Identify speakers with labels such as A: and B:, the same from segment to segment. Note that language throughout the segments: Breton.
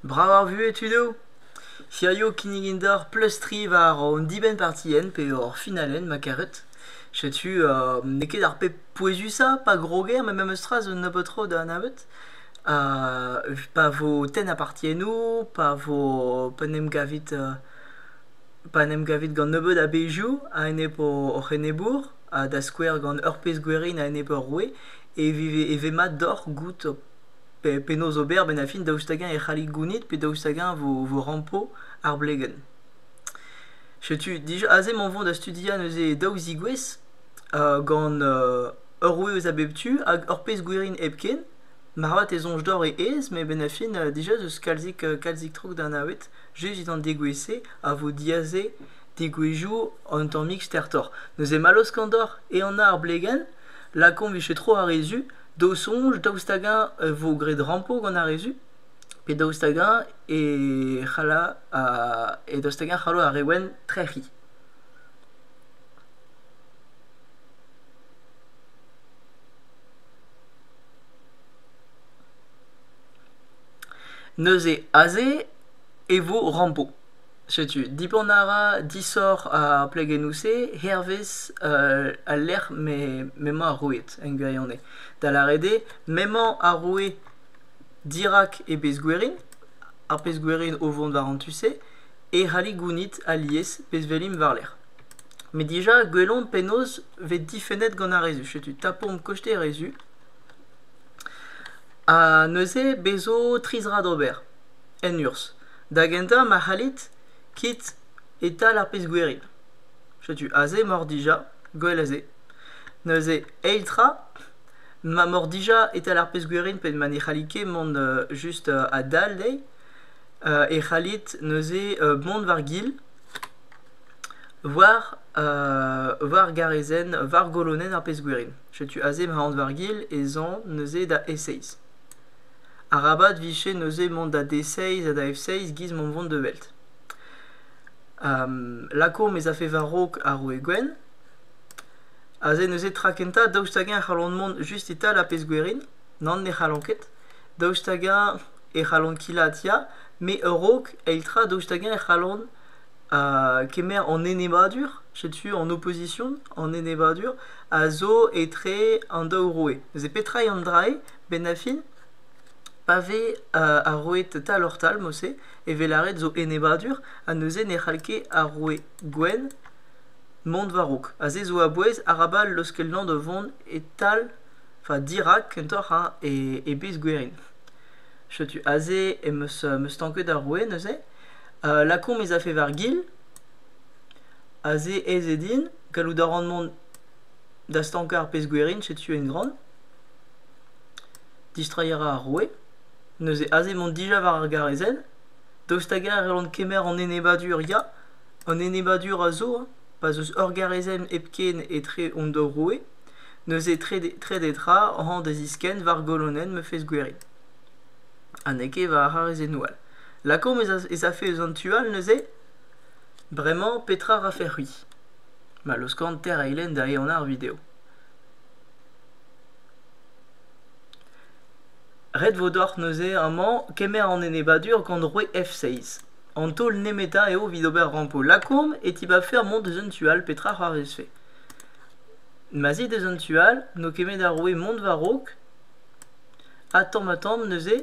A: Brav ar vuhez tudo ? Hirio kinnigan deoc'h pleustriñ war hon dibenn-partienn pe hor finalenn ma karet. Setu n'eo ket ar pep pouezusañ pa groger met memes tra zo un nebeud tro da anavet. pa vo tenn apartiennoù, pa vo pa 'n em gavit pa 'n em gavit gant nebeut a bezhioù a-enep hoc'h enebour ha da skouer gant ur pezh gwerin a-enep ur roue e vez mat deoc'h goût penaos ober a-benn ar fin daoust hag-eñ e c'hallit gounit pe daoust hag-eñ e vo rampo ar blegenn. Setu dija aze emañ o vont da studiañ neuze daou zigouez gant ur roue eus a bep tu hag ur pezh gwirin hepken. Moarvat e soñj deoc'h e aez met a-benn ar fin dija ez eus kalzik kalzik tro da anavet. Just dindan degouezh-se a vo diaze degouezhioù un tammig stertoc'h. Neuze mall eus kaout deoc'h ehan ar blegenn. Lakaomp 'vije tro ar re zu. daou soñj, daoust hag-eñ e vo graet rampo gant ar re zu, pe daoust hag-eñ e c'halla ar e daoust hag-eñ e c'hallo ar re wenn trec'hiñ. Neuze aze e vo rampo. Setu, dibant a ra disoc'h ar plegennoù-se hervez al lec'h m'emañ ar roued, en gwirionez. Da lâret eo, m'emañ ar roued dirak e bezh-gwerin, ar pezh-gwerin o vont war an tu-se, e c'hallit gounit alies pezh-velin war-lerc'h. Met dija, gwelomp penaos vez difennet gant ar re zu. Setu, tapomp koste re zu. Ha neuze, bez' zo tri zra d'ober. en urzh. Da gentañ ma c'hallit, kit e-tal ar pezh-gwirion. Setu aze m'oc'h dija, gwell a-se. Neuze, eil tra, ma m'oc'h dija e-tal ar pezh-gwirion pe ma ne c'hallit ket mont just a-dal dezhi, e c'hallit neuze mont war-gil, war war garezenn, war golonenn ar pezh-gwirion. Setu aze ma aont war-gil ez an neuze da E6. Arabat vije neuze mont da D6 ha da F6 giz mont vont da Welt. lakaomp ez afe war-raok ar roue gwenn. Aze neuze tra kentañ, daoust hag-eñ e c'hallont mont just e-tal ar pezh gwerin? Nann, ne c'hallont ket. Daoust hag-eñ e c'hallont kilaat ya, met a-raok, eil tra, daoust hag-eñ e c'hallont kemer an enebour, setu an opposition, an enebour, a zo etre an daou roue. Neuze petra eo an drailh? Benafin, pa vez roet tal-oc'h-tal mod-se e vez lâret zo enebadur ha neuze ne c'hall ket ar roue gwenn mont war-raok. Aze zo a-bouez arabat leuskelnañ da vont e-tal, enfin dirak kentoc'h ha e bez gwerin. Setu aze em eus stanket ar roue neuze. Lakaomp ez afe war-gil. Aze ez eo din. Gallout a ran mont da stankañ ar pezh gwerin, setu en gran. Distreiñ a ra ar roue, neuze aze emañ dija war ar garrezenn, daoust hag-eñ e c'hellont kemer an enebadur ya, an enebadur a zo pa'z eus ur garrezenn hepken etre hon daou roue, neuze trede tra hañ da ziskenn war golonenn ma fezh gwerin. Ha n'eo ket war ar c'harrezennoù all. Lakaomp ez afe eus an tu all neuze? Bremañ petra rafec'h-c'hwi? Ma laoskan teir eilenn da ehanañ ar video. ret vo deoc'h neuze amañ kemer an enebadur gant roue f6 an taol nemetañ eo evit ober rampo lakourm e tibabfer mont deus an tu all petra a c'hoarvezfe ma 'z it deus an tu all n'eo kemet ar roue mont war-raok ha tamm-ha-tamm neuze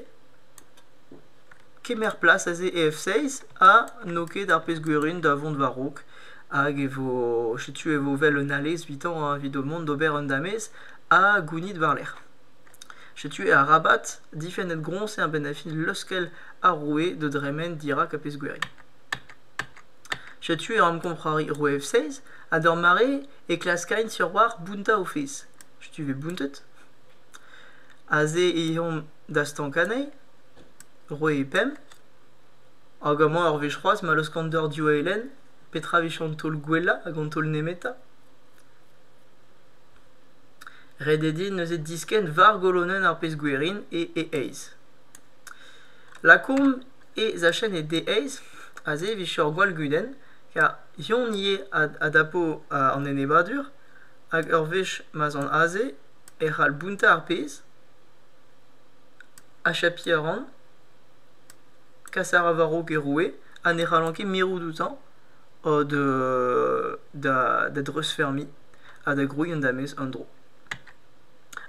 A: kemer plas aze EF6 ha n'eo ket ar pezh gwirion da vont war-raok hag e vo setu e vo 'vel un alez evitañ evit ho mont d'ober un damez ha gounit war-lerc'h. Setu arabat difennet groñs eo a-benn ar fin leuskel ar roue da dremen dirak ar pezh gwirion. Setu eo amkomprari roue F6 ha d'ur mare e klaskaint surwalc'h bountañ o fezh. Setu 'vez bountet. Aze eh omp da stank anezhi. Roit pemp hag amañ ur wech c'hoazh ma laoskan deoc'h div eilenn. Petra emichañ an taol gwellañ hag an taol nemetañ? Ret eo din neuze diskenn war golonenn ar pezh gwerin e e eizh. Lakaomp e zachenn e d eizh aze evit chom ur gwall gudenn kar Yon ivez a dapo an enebadur hag ur wech ma'z an aze e c'hall bountañ ar pezh. achapiñ a ran, kas a ra war-raok e roue ha ne c'hallan ket mirout outañ da dreuzfermiñ ha da grouiñ an damez en-dro.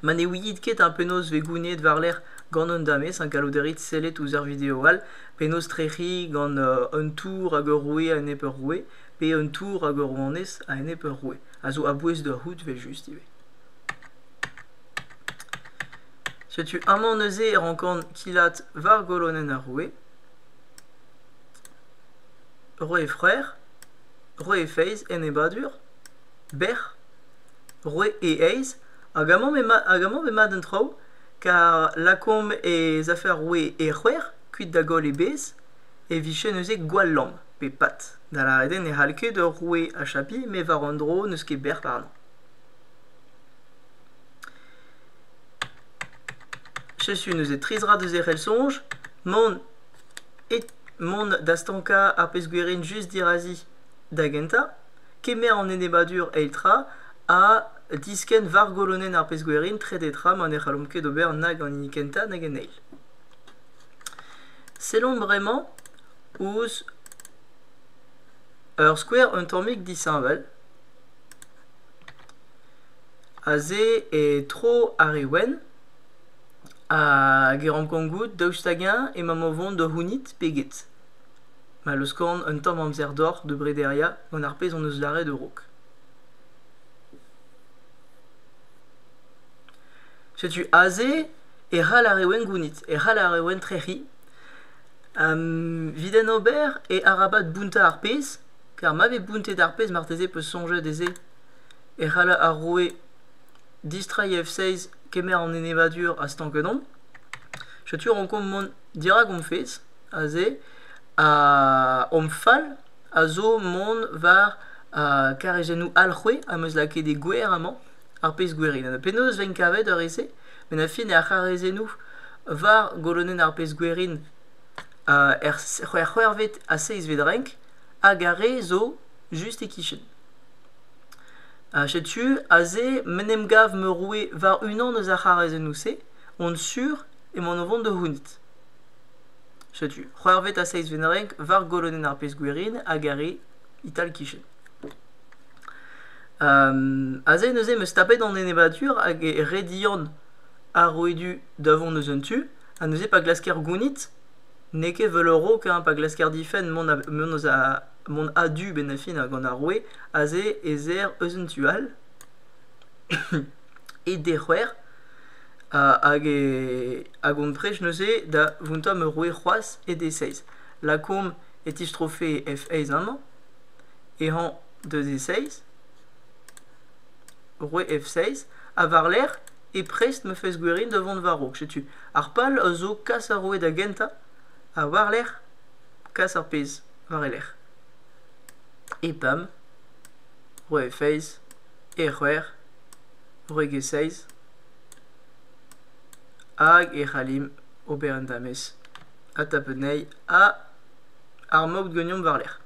A: Ma ne ouiit ket penaos vez gouniet war-lerc'h gant an damez ha gallout a rit sellet ouzh ar video all penaos trec'hiñ gant un tour hag ur roue a-enep ur roue pe un tour hag ur rouanez a-enep ur roue, a zo a-bouez da c'hoût evel-just ivez. Setu amañ neuze e rankan kilat war golonenn ar roue, roue e freur, roue e feiz, enebadur, bec'h, roue e aez, hag amañ m'emañ hag amañ m'emañ an traoù kar lakaomp ez afe ar roue e c'hwec'h kuit da goll e bez e vije neuze gwall lamm pe pat, da lâret eo ne c'hall ket ur roue achapiñ met war un dro n'eus ket bec'h warnañ. Setu neuze tri zra deus e c'hell-soñj, mont e mont da stankañ ar pezh-gwerenn just dirazi da gentañ, kemer an enebadur eil tra ha diskenn war golonenn ar pezh-gwerenn trede tra ma ne c'hallomp ket ober nag an hini kentañ nag an eil. Sellomp bremañ ouzh ur skouer un tammig disheñvel. Aze e tro ar re wenn hag e rankan goût daoust hag-eñ emamm o vont da c'hounit pe get. Ma 'm eus korn un tamm amzer doc'h da brederiañ gant ar pezh hon eus lâret a-raok. Setu aze e c'hall ar re wenn gounit, e c'hall ar re wenn trec'hiñ. Evit en ober e arabat bountañ ar pezh, kar ma vez bountet ar pezh marteze 'peus soñjet ez eo. e c'hall ar roue distreiñ F-16 kemer an enebadur a Stankedon. Setu rankomp mont dirak hom fezh aze ha hom fal a zo mont war karezennoù Alc'hwe am eus lakaet e gwer amañ, ar pezh gwerin. Penaos ven kavet ar re-se? Met ar fin eo ar c'harezennoù war golonenn ar pezh gwerin er c'hwec'hvet ha seizhvet renk hag ar re zo just e-kichen. Ha setu aze m'en em gav ma roue war-unan eus ar c'harrezennoù-se, on sur emaon o vont da c'hounit. Setu, c'hwec'hvet ha seizhvet renk war golonenn ar pezh-gwirin hag ar re ital-kichen. aze neuze em eus tapet an enebadur hag e redian ar rouedu da vont eus un tu, ha neuze pa glasker gounit, n'eo ket 'vel ur raok pa glasker difenn mont eus a... mont a-du bennafin gant ar roue aze ez aer eus an tu all e dec'hwer hag e hag hon prej neuze da vountañ ma roue c'hoazh e d-e-seizh lakaomp e tistrofe f eizh amañ e hañv deus e seizh roue f seizh ha war-lerc'h e prest ma fez gwerin da vont war-raok setu ar pal a zo kas ar roue da gentañ ha war-lerc'h kas ar pezh war e lerc'h. E pemp, roue feiz, e c'hwec'h, gwreg e seiz, hag e c'hallimp ober un damez ha tapet anezhi ha ar maout gagnomp war-lerc'h.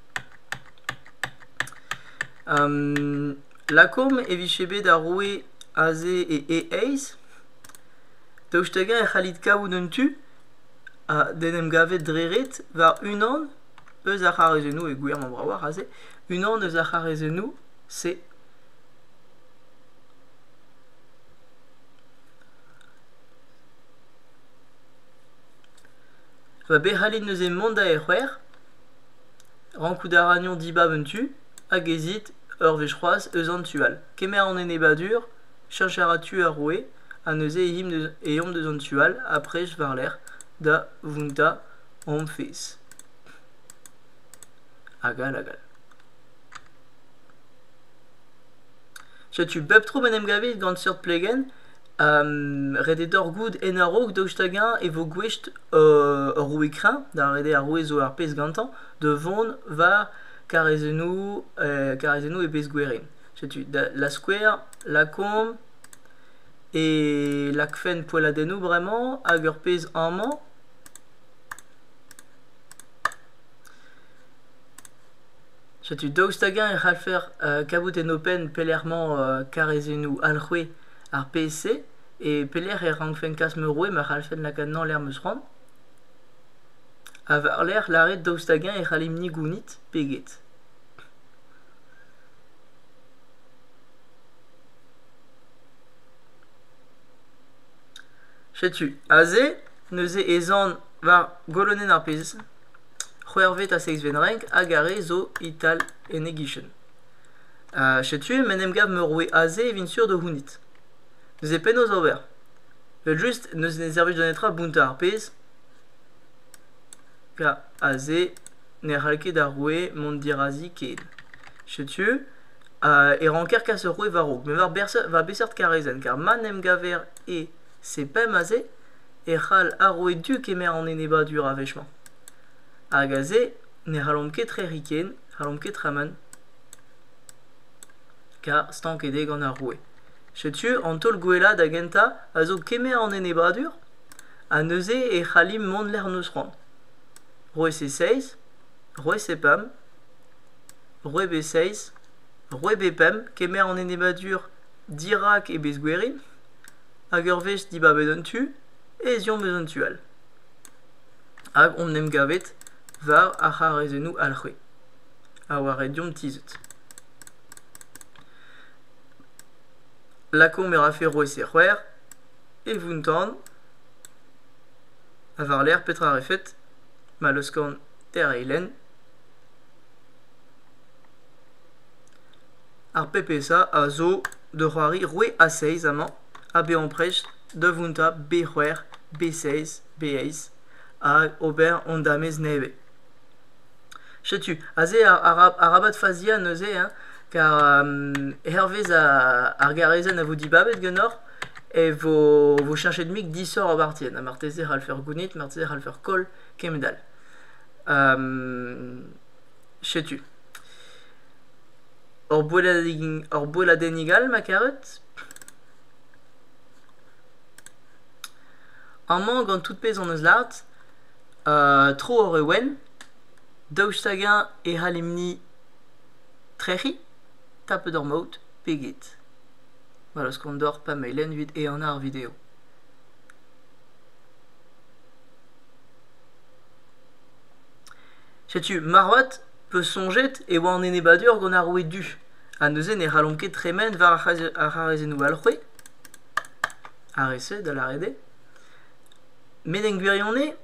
A: Um, lakaomp e vije bet ar roue aze e e-eizh, daoust hag-eñ e c'hallit kavout un tu ha d'en em gavet dre ret war unan eus ar c'harrezennoù, e gwir, mañ bravoc'h aze, unan eus ar c'harrezennoù, c'est va bet c'hallet neuze mont da e-c'hwec'h, rankout a ragnon dibab un tu, hag ezit ur wech c'hoazh eus an tu all. Kemer an enebadur, cheñch a ra tu ar roue. ha neuze eomp deus an tu all aprez war-lerc'h da vountañ hom fezh. Hag all hag all. Setu bep tro m'en em gavit gant seurt plegenn. ret eo deoc'h goût en a-raok daoust hag-eñ e vo gouest ur roue kreñv, da redek ar roue zo ar pezh gantañ, da vont war karrezennoù e pezh gouere. Setu da skouer, lakaomp e lakfen poelladennoù bremañ hag ur pezh amañ setu daoust hag-eñ e c'hallfer kavout en ho penn pelec'h emañ karrezennoù alc'hwe ar pezh-se e pelec'h e rankfen kas ma roue ma c'hallfen lakaat-enañ lec'h 'm eus c'hoant ha war-lerc'h lâret daoust hag-eñ e c'hallimp-ni gounit pe get Setu aze neuze ez an war golonenn ar pezh. C'hwec'hvet ha seizhvet renk hag ar re zo e-tal en e-gichen. Uh, setu m'en em gav meurvoe aze e vin sur da c'hounit. Neuze penaos ober? Evel-just n'eus ne servij da netra bountañ ar pezh. Ya, aze ne c'hall ket ar roue mont dirazi ken. Setu e ranker kas ur roue war-raok met war beseurt karezenn kar ma 'n em gaver e c'est pemp aze e c'hall ar roue du kemer an enebadur a wech-mañ hag aze ne c'hallomp ket trec'hiñ ken n'hallomp ket tremen kar stanket eo gant ar roue setu an taol gwellañ da gentañ a zo kemer an enebadur ha neuze e c'hallimp mont lec'h 'n eus c'hoant roue c'est seizh roue c'est pemp Roet eo seizh. Roet eo pemp. Kemer an enebladur dirak e bezgwerin. Hag ur wech dibabet an tu, ez eomp eus an tu all. Hag omp en em gavet war ar c'harrezennoù alc'hwe. Ha war red deomp tizhout. Lakaomp e rafe roet se c'hwec'h. E vountan. Ha war-lerc'h petra a refet? Ma laoskan er eilenn. ar pepesa a zo da c'hoari roue a-seiz amañ ha bezañ prest da vountañ b-c'hwec'h b-seiz b-eizh hag ober hon damez nevez setu aze arabat faziañ neuze hein car hervez ar garezenn a vo dibabet ganeoc'h e vo cheñchet mik disoc'h o bartier ha marteze e c'hallfec'h gounit marteze e c'hallfec'h koll kement all Setu ur boelladennig ur boelladennig all ma karet. Amañ gant tout pezh hon eus lâret tro ur re wenn, daoust hag-eñ e c'hallimp-ni trec'hiñ tapet ur maout pe get? Gwell 'eus kont deoc'h pa mailenn evit ehanañ ar video. Setu marvat peus soñjet e oa an enebadur gant ar roue du, ha neuze ne c'hallomp ket tremen war ar c'harazennoù all c'hwi? Ar re-se, da lâret eo. Met en gwirionez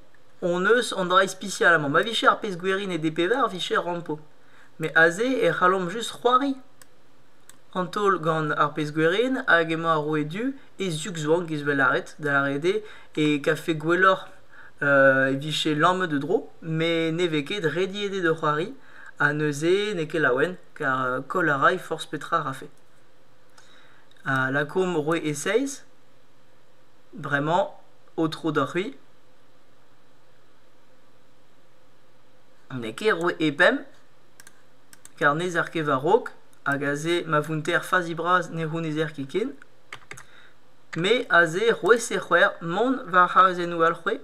A: hon eus an dra ispisial amañ. Ma vije ar pezh gwerin e DP-var vije rampo. Met aze e c'hallomp just c'hoari an taol gant ar pezh gwerin hag emañ ar roue du e zug-zwank, ez eus bet lâret, da lâret eo, e kafe gwelloc'h e vije lammet o dro met ne vez ket rediet eo da c'hoari ha neuze n'eo ket laouen kar koll a ray forzh petra a rafe. Ha lakaomp roue e-seizh, bremañ aotrou doc'hwi. N'eo ket roue e-pemp kar n'ezer ket war-raok hag aze ma vounter fazi bras ne c'hounezer ket ken. Me aze c'hwezh-ha-c'hwec'h mont war abadennoù all c'hwez.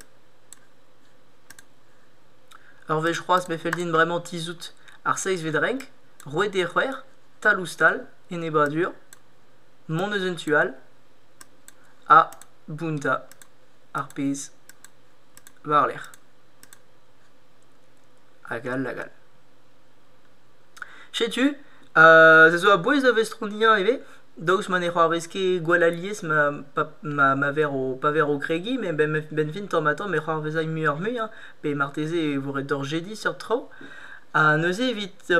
A: Ur wech c'hoazh me fell din bremañ tizhout ar seizhvet renk, roued eo c'hwec'h, tal-ouzh-tal, enebadur, mont eus un tu all, ha bountañ ar pezh war-lerc'h. Hag all, hag all. Setu, se zo a-bouez da vestroniañ ivez. Daoust ma ne c'hoarvez ket gwall alies ma ver o kregiñ, benvin tamm-ha-tamm e c'hoarvezay muioc'h-mui pe marteze e vo ret deoc'h jediñ seurt traoù. Ha neuze evit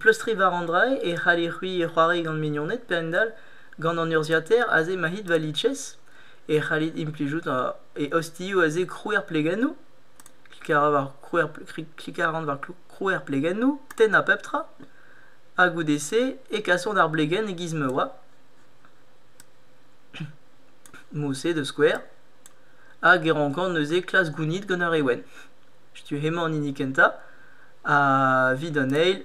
A: pleustriñ war an dra e c'haller c'hwi c'hoari gant mignoned pe a-hend-all gant an urzhiataer aze mahit va litchez e c'hallit implijout e ostioù aze krouer plegennoù. Klikañ a ran war krouer plegennoù, tennañ pep tra. ha goude-se e kasont ar blegenn e-giz ma oa. Mousset da skouer, hag e rankan neuze klask gounid gant ur re wenn. Setu hemañ an hini kentañ. Ha evit an eil,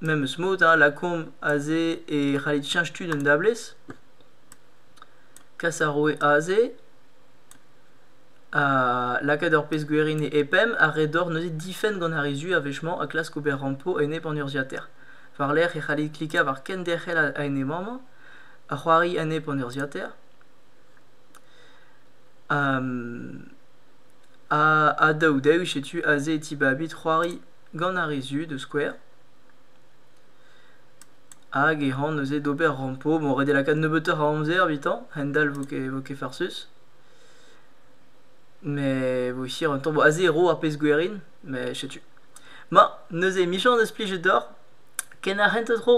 A: memes mod, hein, lakaomp aze e c'hallit cheñch tud un dablez. Kas ar roue aze. lakaat ur pezh gwerin e-pemp ha re dor neuze difenn gant ar re zu a-wechemañ ha klask ober rampo a-enep an urzhiataer. War-lerc'h e c'hallit klikañ war kenderc'hel a-enep-mañ ha c'hoari a-enep an urzhiataer. ha daou daou setu aze e tibabit c'hoari gant ar re zu da skouer. Hag e ran neuze d'ober rampo. Bon, ret eo lakaat nebeutoc'h a amzer evitañ, a-hend-all vo ket farsus. Met bon hir un tamm a zero ar pezh gwerin met setu. Ma neuze emichañs deus plijet deoc'h. Ken ar c'hentañ tro.